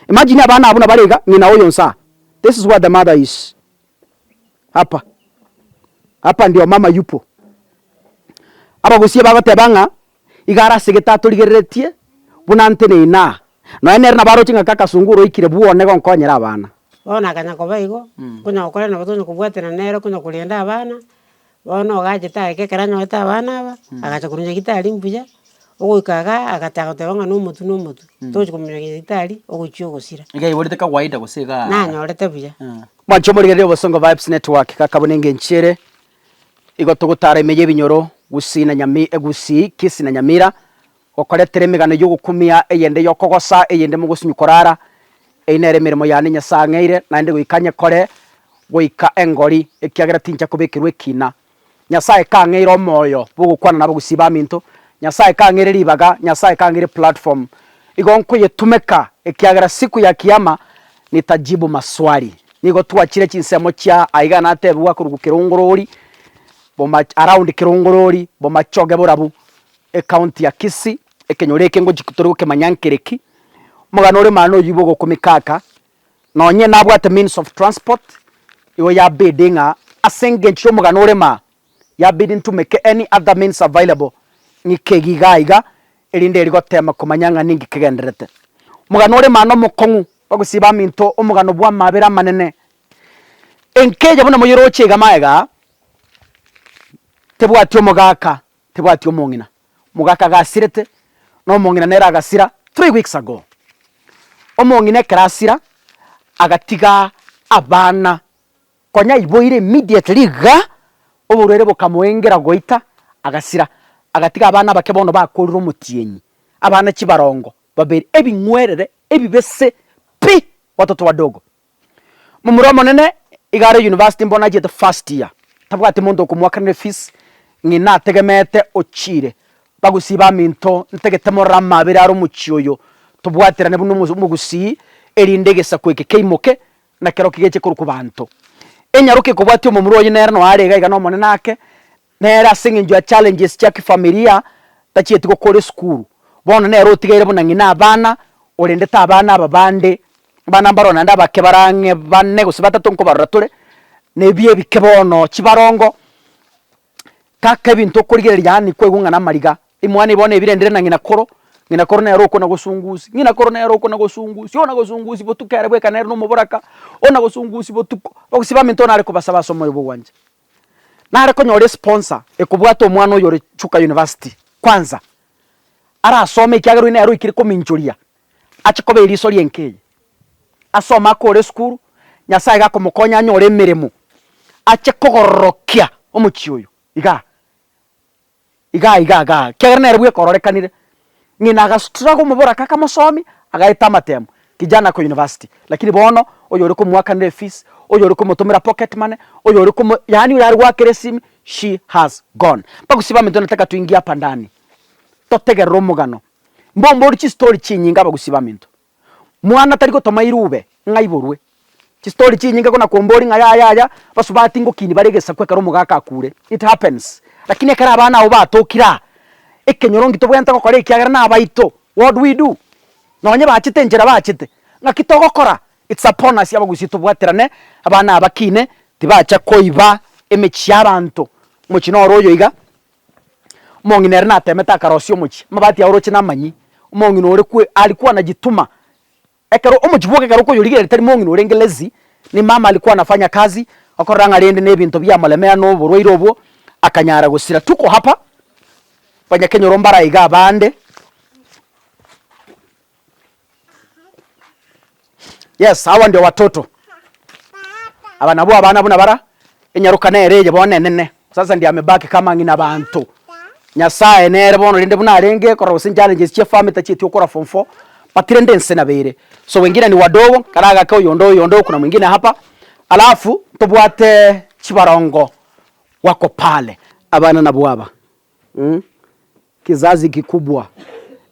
Imagine abana abwo nabare iga, ng'ina oyo nsaa. This is where the mother is. Hapa. Hapa ndio mama yupo. Abagusie bagoteba ng'a iga are ase gete atorigereretie buna nte na inaa. Nonya nere nabo aroche ng'a kaka Sungura oikire bwone iga onkonyere abana. Bono akanya koba igo, konya gokora nabo tonya kobwatana nere konya korenda abana. Bono ogachete ageka ekero anyorete abana aba, agacha korwa nyagetari mbuya, ogoika iga agataka goteba ng'a nomotu nomotu, tochi komoira nyagetari ogochia ogosira. Iga aiborete kawaida gose igaa? Nanyorete buya. Mwancha omorigereria obosongo Vibes Network gaka buna engencho ere igo togotara ime y'ebinyoro Gusii na Nyami Gusii, Kisii na Nyamira Gokoretera emegano y'ogokumia eyende y'okogosa eyende mogosunywa korara, eyio nere emeremo yane Nyasae ang'eire, naende goika nyekore goika engori, ekiagera tincha kobekerwa ekina. Nyasae kang'eire omoyo bw'ogokwana nabagusii baminto, Nyasae kang'eire ribaga, Nyasae kang'eire platform. Igo nkoyetumeka, ekiagera siku ya Kiyama nitajibu maswali. Nigo twachire chinsemo chia aiga natebigwa korwa kirongorori, boma around kirongorori, bomachoge borabu, Ecounty ya Kisii, ekenyoro eke ngochia tore gokemanya nkere ki, omogano ore maana oyio igo ogokumeka aka, nonye nabwate means of transport, igo yabidi ng'a ase engencho yomogano ore maa, yabidi ntumeke any other means available ng'ike eyio iga iga, erinde eri gotema komanya ng'a ninki kegendererete. Omogano ore maana omokong'u, bagosibia baminto omogano bwa amabera amanene, enkeja buna moyeroche iga magega, tebwati omogaka, tebwati omong'ina, mogaka gasirete, na omong'ina nere agasira three weeks ago. Omong'ina ekero asira, agatiga abana, konya aiboire immediately igaa, oborwaire bokamoengera goita, agasira, agatiga abana abake bono bakorire omotienyi, abana chibarongo, babere, ebing'werere, ebibese pi, watoto wadogo. Momura omonene iga are university bono achiete first year, tabwati monto okomoakanera efees, ng'ina ategemeete ochiire, bagusii baminto ntagete morore amabera are omochie oyo, tobwaterane buna omo omogusii, erinde egesaku eke keimoke, nakerokio geche korokwa banto. Enyaroke ekobwatia omomura oye nere noo are iga iga nomonene ake, Nere ase eng'encho ya challenges chia kifamilia tachieti gokora esukuru, bono nere otigaire buna ng'ina abana orendete abana aba bande, abana mbaro naende abake barang'e bane gose batato nkobarora tore, na ebiya ebike bono, chibarongo, taka ebinto okorigereria yaani kwaigwa ng'a namariga, emwana eye bono ebirendire na ng'ina koro, ng'ina koro nere okona gosungusia, ng'ina koro nere okona gosungusia, ona gosungusia botuko ere bweka nere na omoboraka, ona gosungusia botuko, ogosiba baminto onare kobasaba ase omoyo bwa ogwancha. nare konyora esponsa ekobwate omwana oyo ore Chuka University kwanza arasome ekiagera oyio nere oikire kominchoria ache koba eriso ri'enka eye. Asome akore esukuru, Nyasaye iga akomokonya anyore emeremo ache kogororokia omochie oyo igaa. igaa igaa igaa ekiagera nere bwekororekanire, ng'ina agasutura omoboraka akamosomi, agaeta amatemo, kijana ako university, lakini bono oyore komoakanera efees, oyore komotomera pocket money, oyore komo yaani oyare goakera esimi, she has gone. Bagusii baminto nataka tuingie hapa ndani, totegerere omogano, mbombori chistory chinyinge abagusii baminto. Mwana tari gotoma irube ng'a aiborwe. Chistory chinyinge ko nakombori ng'a yaya yaya basubati ngokiini bare egesaku ekero omogaka akure. It happens. Lakini ekero abana abo batokire aa, ekenyorongi tobwenerete gokora ekiagera nabaito. What do we do? Nonye bachete enchera bachete, ng'aki togokora? It's upon us abagusia tobwaterane abana aba kiine tibacha koiba emechie ya abanto. Omochie noro oyo iga. Omong'ina ere natemete akarosia omochie, amabati ao oroche namanyie, omong'ina ore kwe ari kwana jituma, ekero omochie bwoka ekero okoyorigereria tari mong'ina orenge lazy, ni mama ari kwana fanya kazi, okorora ng'a rende nebinto biamoremera na oborwaire obwo, akanyara gosira. Tuko hapa, banya kenyoro mbaraige abande. Yes, hawa ndio watoto. Aba nabwo abana buna bara enyaruka nere eye bono enene. Sasa ndio amebaki kama ng'ina banto. Nyasaye nere bono rende buna arenge korora gose challenges chia family tachieti okora form four but rende ense nabere. So wengine ni wadogo karagake oyonde oyonde oku na mwingine hapa alafu tobwate chibarongo wako pale. Abana nabwo aba. Mh. Kizazi kikubwa.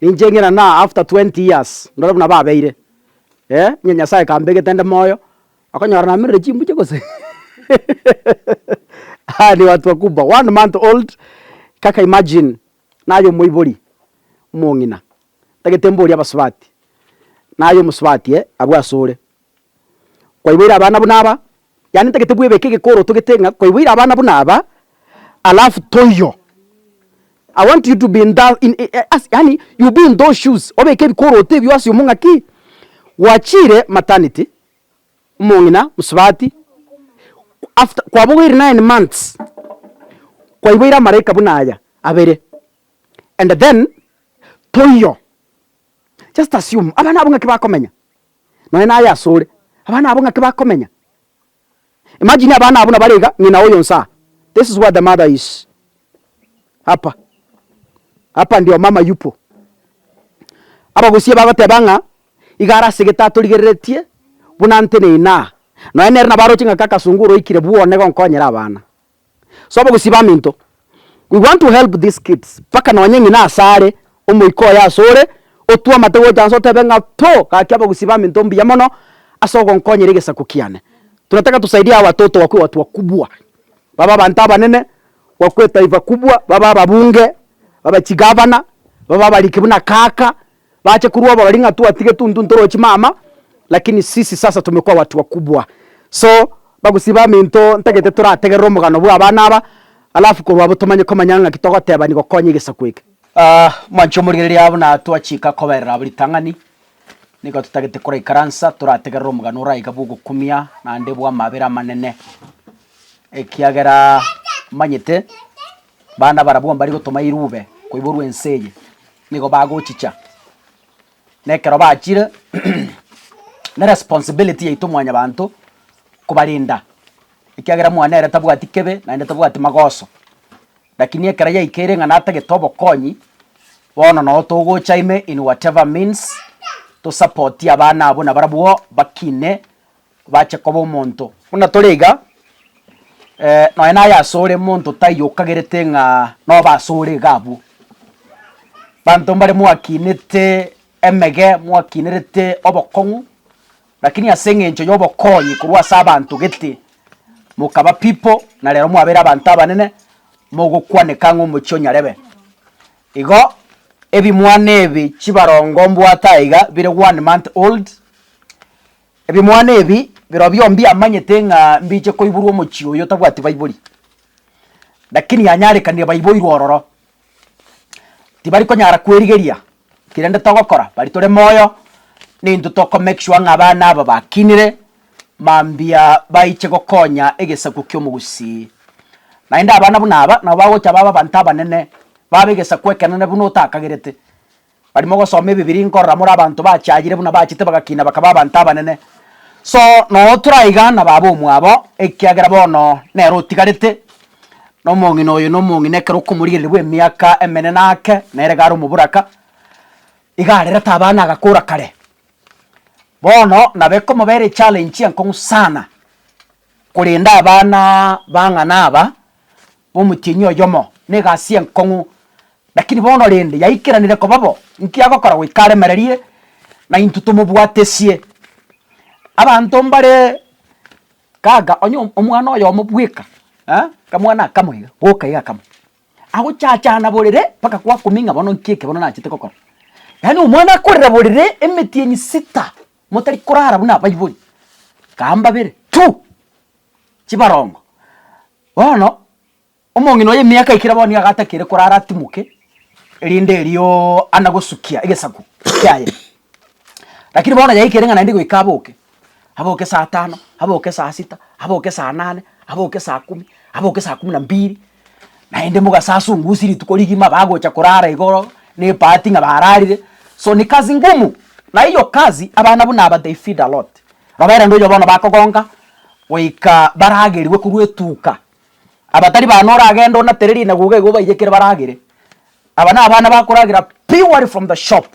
Ninche ng'ina na after 20 years ndore buna babeire eh onye Nyasaye kambegete nde moyo okonyora namerire chimbuche gose aya ni watu wakubwa one month old kaka imagine naye omoibori omong'ina tagete mborie abasubati naye omosubati eh abwo asore. kwaiboire abana buna aba, yaani ntagete bwebeke egekoro otogete ng'a kwaiboire abana buna aba alafu toiyo. I want you to be in tha in i as yaani you be in those shoes obeke ebikoroto ebio ase omong'aki gwachiire maternity, omong'ina, mosubati, after kwabogoire nine months kwaiboire amalaika buna aya abere and then toiyo. Just assume abana abwo ng'aki bakomenya. nonye naye asore, abana abo ng'aki bakomenya? Imagine abana abwo nabare iga, ng'ina oyo onse aa. This is where the mother is. Hapa. Hapa ndio mama yupo. Abagusie bagoteba ng'a iga are ase egete atorigereretie buna nte na inaa. Nonye nere nabo aroche ng'a kaka Sungura oikire bwone gonkonyera abana. Sobo gose baminto, we want to help these kids mpaka nonye ng'ina asare omoika oye asore, otwe amate gocha nse otebe ng'a to gaki abagusii baminto mbuya mono ase ogonkonyera egesaku kiane. Tunataka tusaidie hawa watoto wakue watu wakubwa, babe abanto abanene, wakue etaifa kubwa, babe ababunge, babe chigavana, babe abariki buna kaka. Bache kurwa oborori ng'a twatige tuntu ntoroche mama lakini sisi sasa tumekuwa watu wakubwa so bagosiba minto ntagete torategerere omogano bwa abana aba alafu korwa abwo tomanye komanya ng'aki togoteba nigokonya egesaku eke. Mwanche omorigereria aa buna twachika koberera abwo ritang'ani nigo totagete koraikaransa torategerere omogano oraya iga bw'ogokumia naende bw'amabera amanene ekiagera omanyete bana barabwo mbari gotoma irube koiborwa ense eye Nigo bagochicha, na ekero bachire ne responsibility yaito mwanyabanto kobarenda, ekiagera omwana ere tabwati kebe naende tabwati magoso. Lakini ekero yaikeire ng'a natagete obokonyi, bono noo togocha ime in whatever means, tosapotie abana abwo nabarabwo bakine Obache koba omonto buna tore iga, nonya naye asore monto taiyo okagerete ng'a nobe asore iga abwo. Banto mbare mwakinete emege, mwakinerete obokong'u, rakini ase eng'encho y'obokonyi korwa ase abanto gete mokaba people na rero mwabere abanto abanene, mogokwaneka ng'a omochie o nyarebe. Igo ebimwana ebi chibarongo mbwate aiga bire one month old, Ebimwana ebi birobio mbiamanyete ng'a mbiche koiborwa omochie oyo otabwati baibori, lakini yanyarekanire baiboirwe ororo. Tibari konyara kwerigeria eki rende togokora, bari tore moyo nintwe toko make sure ng'a abana aba bakinire mambia baiche gokonya egesaku ki'omogusii. Naende abana buna aba nabo bagocha babe abanto abanene, babe egesaku ekenene buna otakagerete. Baria mogosoma Ebibiria nkorora more abanto bachayire buna bachete bagakina bakaba abanto abanene. So noo toraiga na baba omwabo ekiagera bono nere otigarete, na omong'ina oyo na omong'ina ekero okomorigereria bw'emiaka emenene ake nere iga are omoboraka, iga arerete abana agakora kare. Bono nabo ekomobera echallenge enkong'u sana korenda abana bang'ana aba. omochenu oyomo negasi enkong'u, lakini bono rende yaikeranire koba bo, nki agokora goika aremererie na intwe tomobwatesie? Abanto mbare gaga, onye omwana oyomo bweka akamwana akamo iga, boka iga akamo, agochachana borere mpaka kwakumia ng'a bono nki eke bono nachete gokora. Yaani omwana akorera borere emetienyi sita motari korara buna abaibori, kaa mbabere tu. chibarongo. Bono omong'ina oye emiaka ekire bono nigo agatakire korara atimoke, erinde erio ande gosukia egesaku kiaye. Rakini bono yaikire ng'a naende goika aboke, aboke saa tano, aboke saa sita, aboke saa nane, aboke saa kumi, aboke saa kumi na mbiri, naende mogasasungusie rituko rigima bagocha korara igoro na epaati ng'a bararire, so ni kazi ngumu, na hiyo kazi abana buna aba they feed a lot, roberera onde oyo bono bakogonka goika baragerigwe korwa etuuka, aba tari bana oragende onatere rinagoga iga obaiyekere baragere, aba na abana bakoragera purely from the shop,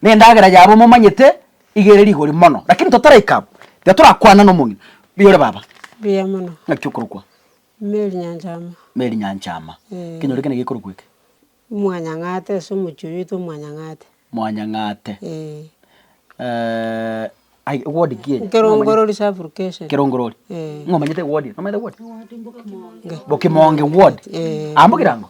na endagera yabo momanyete iga ere rigori mono, lakini totaraika abwo, tiga torakwana na omong'ina, mbuya ore baba, Mbuya mono. ng'aki okorokwa. Merinyancha ama. Merinyancha ama. Ee. Ekenyoro ekio naki gekorokwa eke. Mwanyang'ate ase omochie oyo oitwa Mwanyang'ate. Mwanyang'ate. Ee. Eeh, ai ewodi ki eye? Nkerongorori sub-location. Kerongorori. Ee. Ng'o omanyete ewodi eye? Nomanyete ewodi? Ewodi mbokimonge. Mbokimonge ward. Ee. Aa mbokirango?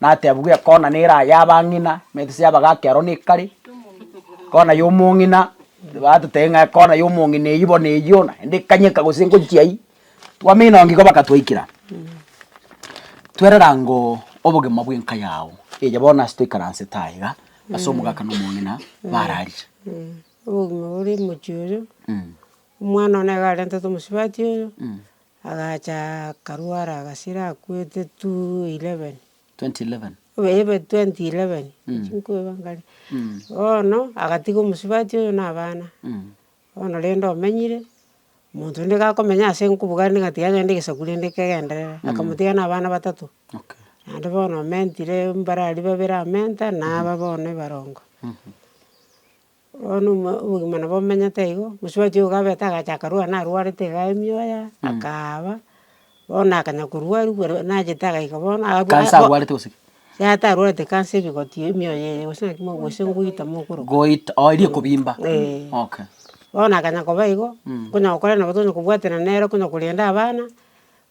natebigwe ekona nere aya abang'ina, emetiso y'abagaka ero nekare, ekona y'omong'ina batotebia ng'a ekona y'omong'ina eywo bono eywo naende ekanyeka gose ngochia aywo, twamenya nonye igo baka twaikera twererangoo obogima bw'enka yago eye bono ase toikaransete aye iga ase omogaka na omong'ina barariire. Obogima bore mochie oyo, omwana one nigo arentete omosubati oyo, Agacha akarwara agasira akwete 2:11. 20:11. Ebe 20:11 chinkoeba ngare. Bono agatiga omosubati oyo na abana. Bono rende omenyire, omonto rende gakomenya ase nkobuga rende ngatiga agende egesaku rende kegenderere. Akamotiga na abana batato. Naende bono omentire mbare aria babere amenta na aba bono ebarongo. Bono obogima nabo omenyete igo, mosubati ogo gabete agacha akarwara narwarete iga emioya, akaaba, bono akanya korwa aria bwere nachete agaika bono Cancer arwarete gose ki? Atarwarete cancer ebigoti ebi emioyo eye gose naki gose ngoita mokoroka. Goita oo eria ekobimba? Eeh. Okay. Bono akanya koba igo, konya gokora nabo tonya kobwaterana nere, konya korenda abana.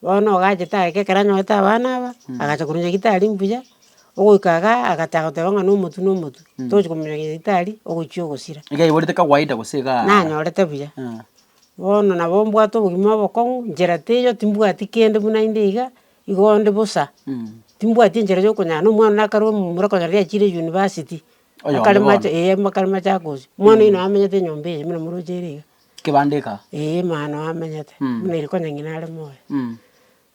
Bono ogachete ageka ekero anyorete abana aba, agacha korwa nyagetari mbuya, ogoika iga agachaka goteba ng'a nomotu nomotu, tochi komoira nyagetari ogochia ogosira. Iga aiborete kawaida gose igaa. Nanyorete buya. Bono nabo mbwate obogima obokong'u, nchera teiyo timbwati kende buna inde iga, igo nde bosa, timbwati enchera ya okonyara na omwana one akarue momura okonyora riria achiire university. Oyomo bono. Akarema ache, eh akarema ache agochia. Omwana oyio nabo amenyete enyomba eye buna moroche ere iga. Kebandeka. Ee, mano amenyete, buna ere konya ng'ina are moyo.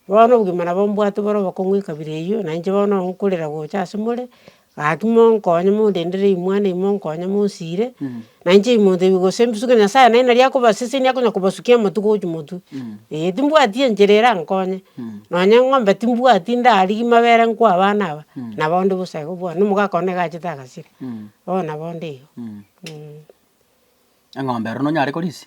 Bono obogima nabo mbwate bore obokong'u ekabira eyio, na inche bono nkorera gocha ase more, gaki monkonye mondendere ime mwane ime monkonye monsire, na inche ime montebi gose mbisuke Nyasaye naende nari akobasesenia akonya kobasukia amatu gochia motwe. Ee, timbwati enchera erankonye, nonya eng'ombe timbwati ndarigia mabere nkoa abana aba, nabo onde bosa igo bono, na omogaka one nigo agachete agasira, bono nabo onde igo. Eng'ombe ero nonyare korisia?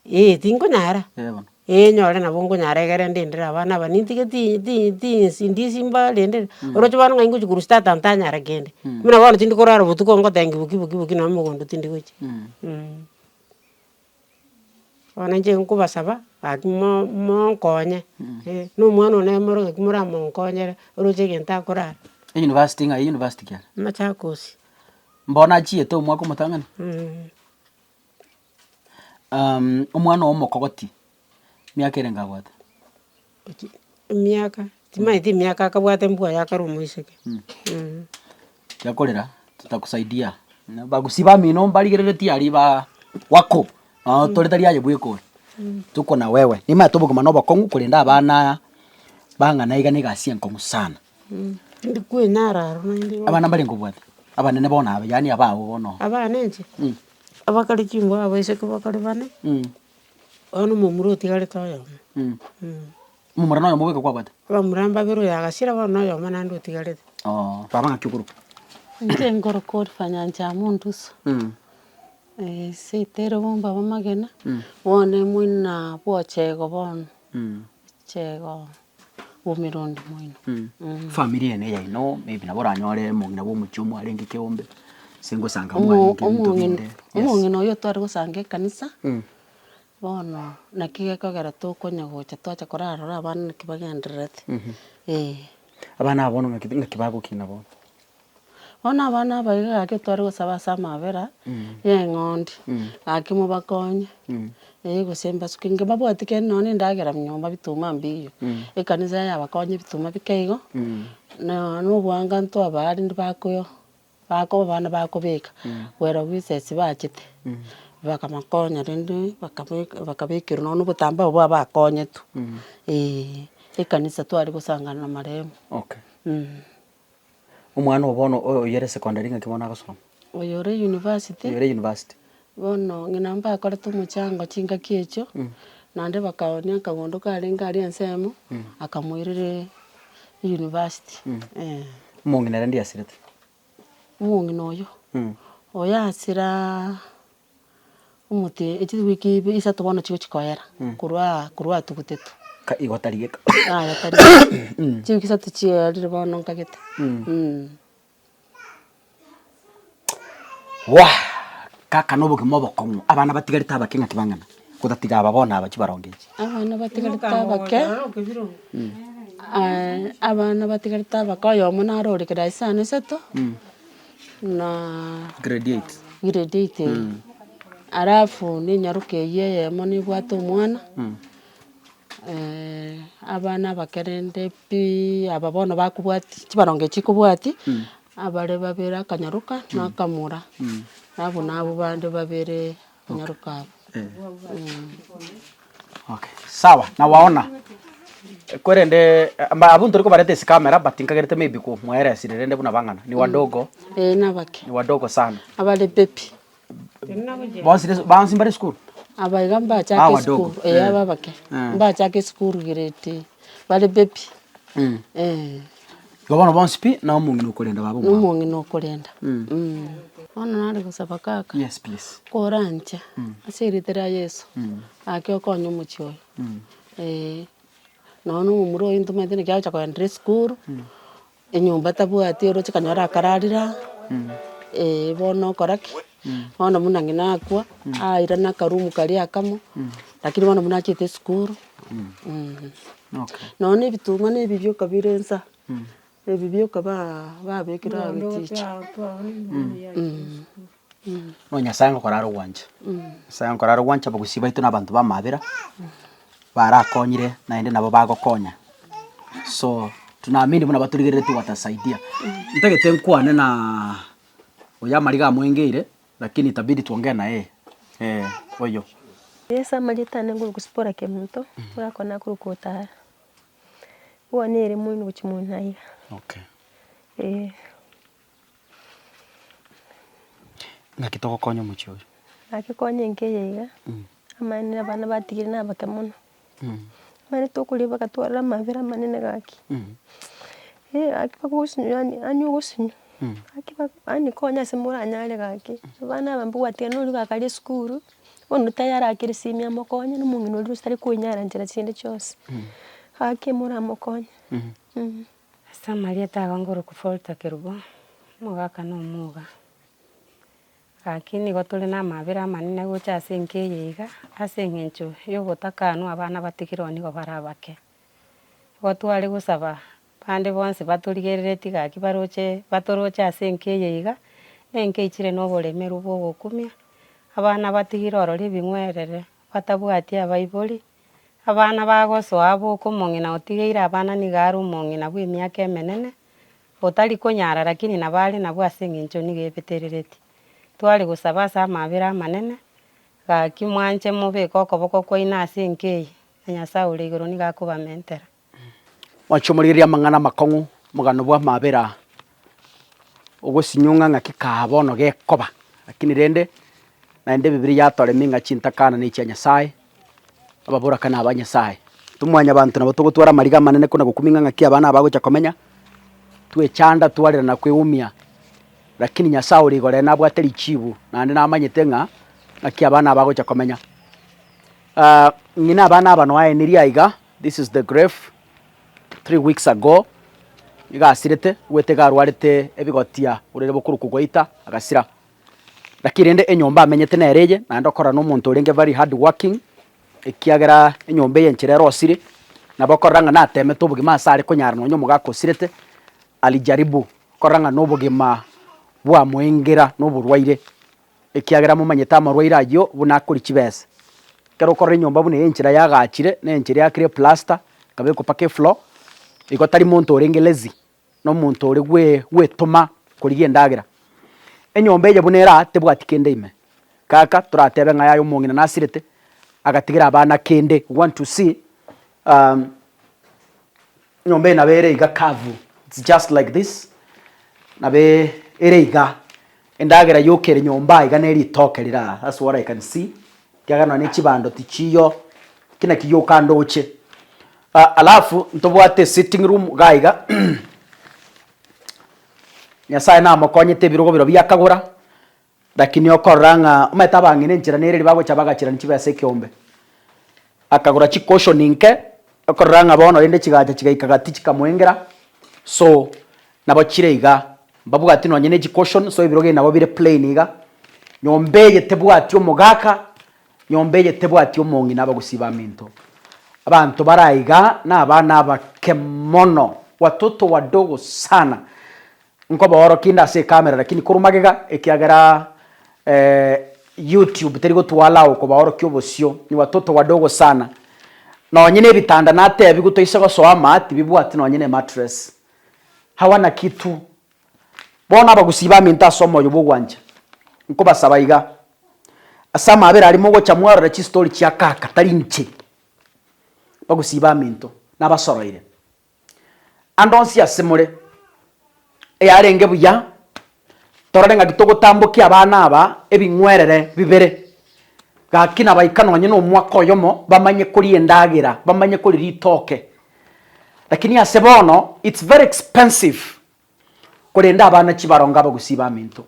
Ee tinkonyara. Ee bono. Ee nyore nabo nkonyara egere ndendere abana aba nintige ti- ti- tinsi ndisi mbarendere, oroche bono ng'ai ngochia korusia tata ntanyara kende. Buna bono tindi korara obotuko ngotengia boki boki boki nonye mogondo tindi gochia. Bono inche nkobasaba gaki mo- monkonye, eh, na omwana one omoro gaki moramonkonyere oroche egento akorara. University ng'ai university ki ere? Machakos. Mbono achiete omwaka omotang'ani. Omwana oye omokogoti, miaka erenge abwate? Emiaka, timaeti emiaka akabwate mbwa aye akarwa omoiseke. Tiakorera, titakusaidia. Bagusii bamino mbarigereretie aria baa wako, nao tore tari aye bweka ore. Tuko na wewe. Nimanyete obogima na obokong'u korende abana aya, bang'ana iga na egasi enkong'u sana. Ndikwinara aro naende igo. Abana mbare nkobwate, abanene bono aba, yaani abago bono oo. Abana inche? Abakare chinguru abo isiko bakare bane, bono omomura otigarete oyomo. Omomura na oyomo bweka kwabwate? Abamura mbabere oyo agachira bono na oyomo naende otigarete. Oo, baba ng'aki okoroka? Inche nkoroka ore Fanyancha amo Ndusu, ase etere bombe abamagena, bono emoina bwochego bono. Chego bw'omerundi moino. Family ene yaino maybe nabo oranyore omong'ina bw'omochie omwarenge ekeombe, ase ngosanga mwarenge ebinto binde. Yes. Omong'ina oyo tware gosanga ekanisa, bono naki gekogera tokonya gocha twacha korarora abana naki bagendererete, eh. Abana aba bono ng'aki ng'aki bagokina bono? Bono abana aba iga gaki tware gosaba ase amabera ya eng'ondi, gaki mobakonye, eh gose mbasuke inga mbabwati kende nonya na endagera nyomba bituma mbiiyie, ekanisa yabakonye bituma bike igo, na nonya obwanga ntwabaa rende bakoyoo, bakoba abana bakobeka, kwera bwesesi bachete, bakabakonya rende bakabeka bakabekerwa nonya na obotambaa obwo abakonyetwe, eeh, ekanisa tware gosangana na marehemu. Omwana oo bono oyo oyore secondary ng'aki bono agosoma? Oyore university. Oyore university. Bono ng'ina mbakorete omochango chingaki echio, naende bakaonia akagondo karenge aria ensemo, akamoirera university, eh. Omong'ina rende yasirete? Omong'ina oyio? Oyasira. omote chiwiki ibe isato bono chigochia koyera, korwa aa korwa atugutetwe. Ka igo tari geka. Yaya tari geka. Chiwiki isato chiyerire bono nkagete. Waa! Kaka na obogima obokong'u, abana batigarete abake ng'aki bang'ana? Otatiga aba bono aba chibaronge echi. Abana batigarete abake, abana batigarete abake oyomo naro ore class ane isato. na Grade eight. grade eight eye. Alafu ninyaroke eyio eyemo nibwate omwana, eh, abana abakerende pi aba bono bakobwati, chibaronge chikobwati, abare babere akanyaroka na akamura, abwo nabwo bande babere. Okay sawa na gwaona korende abwo ntoria kobareta ase camera but nkagerete may be komwaera esira rende buna bang'ana ni wadogo ni wadogo sana bonsi bonsi mbare esukuru aba wadogo mbare esukuru grade bare baby. Igo bono bonsi pi na omong'ina okorenda baba omwabo. Nomong'ina okorenda. Bono nare gosaba kaka. Yes please. Koranche ase erite ria Yeso ake okonye omochie oyo. Eeh. Nonya na omomura oyo ntomanyete naki agocha kogenda ere esukuru, enyomba tabwati oroche kanyore akararire aa, eeh bono okora ki? Bono buna ng'ina akwa, airana akaroom karia akamo, lakini bono buna achete esukuru, eeh. Nonya na ebitong'wa na ebirioka okabira ensa, ebirioka kaba babekire aye bichicha. Bono Nyasae ngokora are ogwancha, Nyasae ngokora are ogwancha abagusii baito na abanto b'amabera, barakonyire naende nabo bagokonya. So, tunaamini buna batorigereretie gotasaidia. Ntagete nkwane na Oyo amariga amoengeire lakini itabidi tuongee na yeye ee oyo. Yeso amanyete ande nguru gosibora kemonto orakore nakuru kotara. Bwane ere moino gochia moino aiga. Okay. Ee. Naki togokonya omochie oyo. Naki konya enke eye iga. Amaene abana batigire nabake mono. Ekero tokoria bagatwarera amabera amanene gaki, eh gaki bagosinywa yaani yaani ogosinywa, gaki ba yaani konya ase moranyare gaki, abana aba mbabwate nonya oria okaria esukuru, bono oria tayarakeire simia mokonye, na omong'ina oria otari koinyara nchera chiaye chionsi, gaki moramokonye. Ase amarieta ago ngorokwa Folta Kerubo, omogaka na omoga. Gaki nigo tore namabera amanene gocha ase enka eye iga, ase engencho yobotakanwa abana batigirwe nigo bare abake. Igo tware gosaba bande bonsi batorigereretie gaki baroche batoroche ase enka eye iga, na enka eichire na oboremeru bwa ogokumia, abana batigire ororo ebing'werere, batabwati abaibori, abana bagosoa abo okomong'ina otigeire abana nigo are omong'ina bw'emiaka emenene, Otari konyara lakini nabo are nabwo ase engencho nigo ebeterereti. Tware gosaba ase amaabera amanene, gaki mwanche mobeke okoboko kwaino ase enka eye, na Nyasae ore igoro nigo akobamentera. Mwanche omorigererie amang'ana amakong'u omogano bw'amaabera ogosinyong'a ng'aki kaa bono gekoba, lakini rende, naende Ebibilia yatoremia ng'a chintakana nechia Nyasae, Ababoraka naba Nyasae. Tomwanyabanto nabo togotwara amariga amanene kona gokumia ng'a ng'aki aba nabo agocha komenya, twechanda twarera na kweumia. Lakini Nyasae ore igoro ere nabwate richiibu naende namanyete ng'a ng'aki aba nabo agocha komenya. Ah, ng'ina aba naba noaenirie aiga, this is the grave, three weeks ago, nigo asirete, bwete iga arwarete ebigotia, orere bokuruku gwaita, agasira. Naki rende enyomba amenyete nere eye, naende okorora nomonto orenge very hardworking, ekiagera enyomba eye enchera ere osire, nabo okorora ng'a natemete obogima ase are konyara nonye omogaka osirete, alijaribu korora ng'a nobogima bwamoengera noborwaire, ekiagera momanyete amarwaire ayio buna akori chibesa. Ekero okorora enyomba buna eye enchera yagachire, na enchera eyakire eplaster, ekabekwa mpaka efloor, igo tari monto orenge lazy. nomonto ore gwetoma korigia endagera. Enyomba eye buna ere aa tebwati kende ime. Kaka toratebe ng'a yaya omong'ina nasirete agatigera abana kende. We want to see enyomba eye nabo ere iga curve. It's just like this, nabo ere iga. Endagera yoka ere nyomba aiga ne ritoke rira that's what I can see ekiagera nonya ne chibando tichiyo ki naki yoka ndoche ah alafu ntobwate sitting room iga aiga Nyasaye namokonyete ebirogo biro biakagora lakini okorora ng'a omanyete abang'ina enchera nere ribagocha bagachirani chibesa ekiombe Akagora chicushion nke, okorora ng'a bono rende chigacha chigaika gati chikamoengera, so nabo chire iga, mbabwati nonye ne chicushion, so ebiroge nabo bire plain iga, nyomba eye tebwati omogaka, nyomba eye tebwati omong'ina aba gusii baminto. Abanto bare aiga na abana abake mono, watoto wadogo sana, Nkoboorokia inde ase ecamera lakini korwa magega ekiagera YouTube teri gotwala ao kobaorokia obosio ni watoto wadogo sana. Nonye ne ebitanda natebigwe toise gosoa ama tibibwati nonye ne mattress. Hawana kitu. Bono abagusii baminto ase omoyo bw'ogwancha nkobasaba iga, ase amabera aria mogocha mwarora chistory chia kaka tari inche. Bagusii baminto nabasoroire. Ande onsi ase more, eyarenge buya, torore ng'aki togotambokia abana aba ebing'werere bibere, gaki nabaika nonye na omwaka oyomo bamanye koria endagera, bamanye koria ritoke. Lakini ase bono, it's very expensive korenda abana chibarongo abagusii baminto.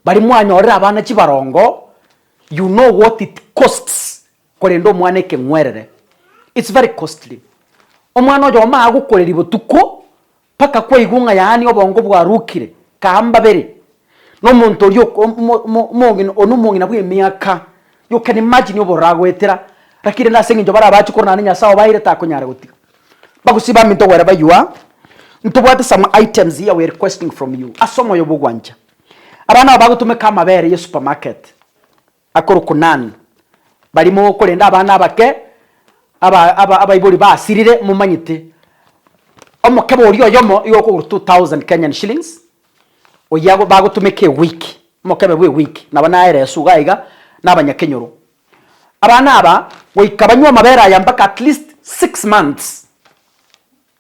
Baria mwanyorire abana chibarongo, you know what it costs. Korende omwana ekeng'werere it's very costly. Omwana oyo omaya gokoreria botuko mpaka kwaigwa ng'a yaani obongo bwarukire kambabere nomonto oria omong'ina one omong'ina bw'emiaka you can imagine obororo agoetera laki rende ase eng'encho barabache korwa naende Nyasaye obaeire takonyara gotiga. Bagusii bambe ntogwere baywa ntobwate some items here we requesting from you ase omoyo bw'ogwancha. Abana aba bagotumeka amabere ye supermarket. Akoro Konan, barimo korenda abana abake aba aba abaibori basirire momanyete, omokebe oria oyomo igo okogorwa 2000 Kenyan shillings, oyia ago bagotumeka ewiki, omokebe bwa ewiki nabo naere esuga iga na abanyakenyoro. Abana aba goika banywe amabere aya mpaka at least six months.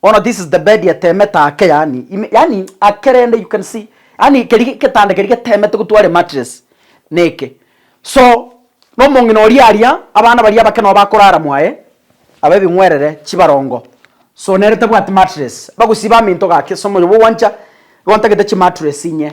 Bono this is the bed etemete ake yaani ime yaani ake rende you can see yaani keri getanda keri getemete gotware mattress neke so na omong'ina oria aria abana baria abake nabo bakorara mwaye aba ebing'werere chibarongo so nere tabwati mattress bagosiba amento gake so omoyo bogwancha rwantagete chimattress inye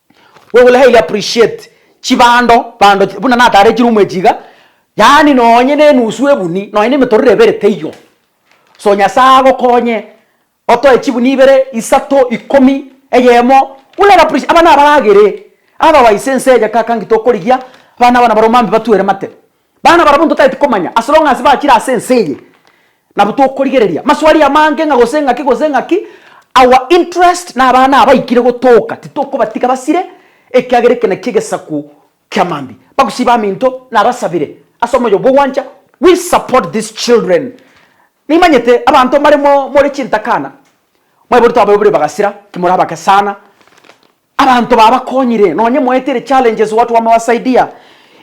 We will highly appreciate chibando bando chi- buna natarechire omwechi iga, yaani nonye na enusu ebuni, nonye na emetororo ebere teiyo. So Nyasae agokonye, otoe chibuni ibere, isato, ikomi, eyemo, will highly appreciate, abana abaragere, otherwise ense eye kaka ngitokorigia, abana aba nabarombe mambia batuere mate. Bana barabwo ntotagete komanya as long as bachire ase ense eye nabo tokorigereria maswali amange ng'a gose ng'aki gose ng'aki our interest na abana aba ikire gotooka titokobatiga basire ekiagera eke nakio egesaku kia mambia bagusii baminto nabasabire ase omoyo bwogwancha we support these children nimanyete abanto mbare mo more chintakana mwaibori twabaibori bagasira ki more abake sana. Abanto babakonyire, nonye moetere challenges watu wamewasaidia.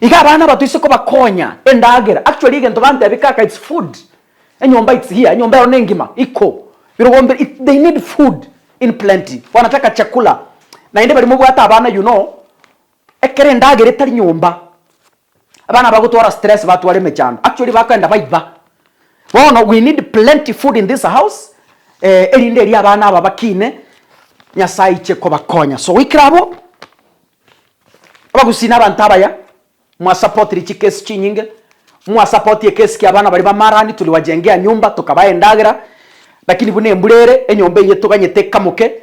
Iga abana aba toise kobakonya, endagera, actually egento bantebia kaka it's food, enyomba it's here, enyomba ero nengima, iko, birogo mbire, it, they need food in plenty, wanataka chakula, naende bari mobwate abana you know, ekero endagera etari nyomba, Abana bagotwara stress batware emechando actually bakoenda baiba. Bono we need plenty food in this house eh erinde eria abana aba bakine Nyasaye aiche kobakonya so goikera abwo abagusii na abanto abaya mwa supportiri chikesi chinyinge mwa support ekesi kia abana baria bamarani tuliwajengea nyumba tokabaha endagera lakini buna embura ere enyomba eye toganyete ekamoke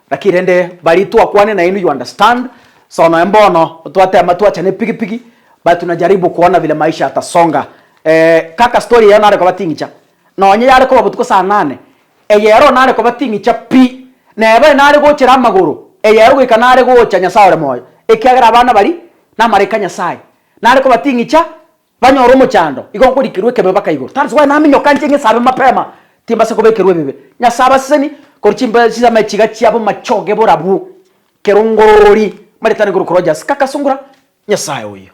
Naki rende baria twakwane nainwe you understand so noe mbono twatema twacha nepigipigi but tunajaribu kuona vile maisha yatasonga eeh kaka story eyio nare koba ting'icha nonye yare koba botuko saa nane eyero nare koba ting'icha pi neba nare gochera amagoro eyero goika nare gocha nyasae ore moyo ekiagera abana baria namaraika nyasae nare koba ting'icha Banyore omochando, igo nkorikerwa ekebe baka igoro. That's why naminyoka nche ng'esabe mapema, timbase kobekerwa ebibe. Nyasae abaseseni, korwa chimbe chisame chiga chiabo machoge borabwo, kero ngorori, maritana igoro Crojas, Kakasungura, Nyasae oyio.